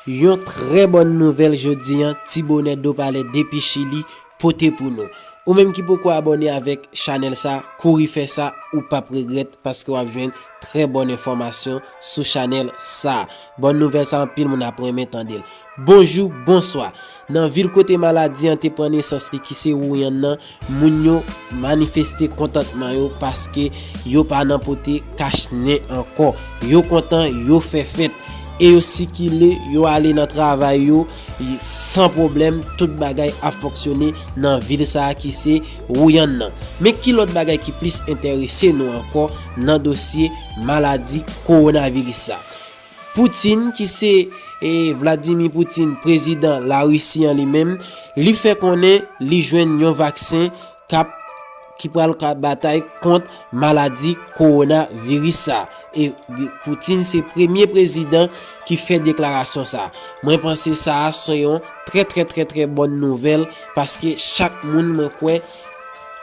Yon trè bòn nouvèl jodi an ti bonè do palè depi chili pote pou nou. Ou menm ki poko abòne avèk chanèl sa kouri fè sa ou pap regrèt paske wap jwenn trè bòn enfòmasyon sou chanèl sa. Bòn nouvèl sa anpil moun ap renmen tandel. Bonjou bonswa. Nan vil kote maladi an te pran nesans li ki se Wuhan nan, moun yo manifeste kontantman yo paske yo pa nan pote kach nen ankò. Yo kontan, yo fè fèt, e yo sikile, yo ale nan travay yo san pwoblèm, tout bagay ap fonksyone nan vil sa ki se Wuhan nan. Men ki lòt bagay ki plis enterese nou ankò nan dosye maladi kowonaviris sa. Putin ki se Vladimir Putin prezidan Larisi an li menm, li fè konnen li jwenn yon vaksen kap ki pral ka batay kont maladi kowona viris sa e Putin se premye prezidan ki fè deklarasyon sa mwen panse sa a se yon trè trè trè trè bòn nouvèl paske chak moun mwen kwè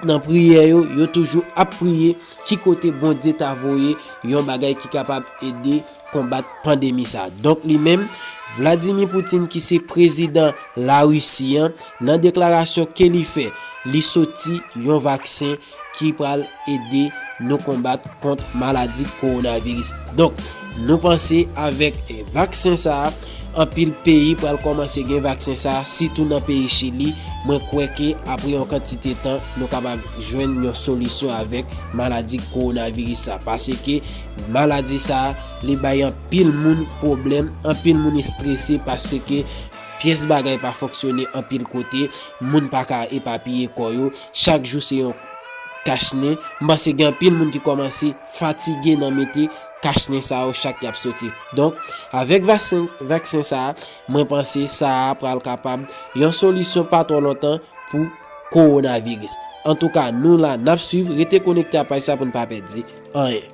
nan priyè yo yo toujou ap priye Ki kote Bondye ta voye yon bagay ki kapab ede konbat pandemi sa? Donk li menm, Vladimir Putin ki se prezidan La Risi an, nan deklarasyon ke li fè, li soti yon vaksen ki pral ede nou konbat kont maladi kowonaviris. Donk, nou panse avèk vaksen sa, Anpil peyi pral kòmanse gen vaksen sa sitou nan peyi Chili, mwen kwè ke apre yon kantite tan nou kapab jwenn yon solisyon avèk maladi kowonaviris sa paske maladi sa li bay anpil moun pwoblèm, anpil moun estrese paske pyès bagay pa fonksyone anpil kote, moun pa ka epapiye kò yo, chak jou se yon kach nen, m panse gen anpil moun ki kòmanse fatige nan mete. Kach nen sa yo chak yap soti. Donk, avèk vaksen sa a, mwen panse sa a pral kapab yon solisyon pa twò lontan pou kowonaviris. Antouka, nou la, nap swiv, rete konekte a paj sa pou n pa pèdi anyen.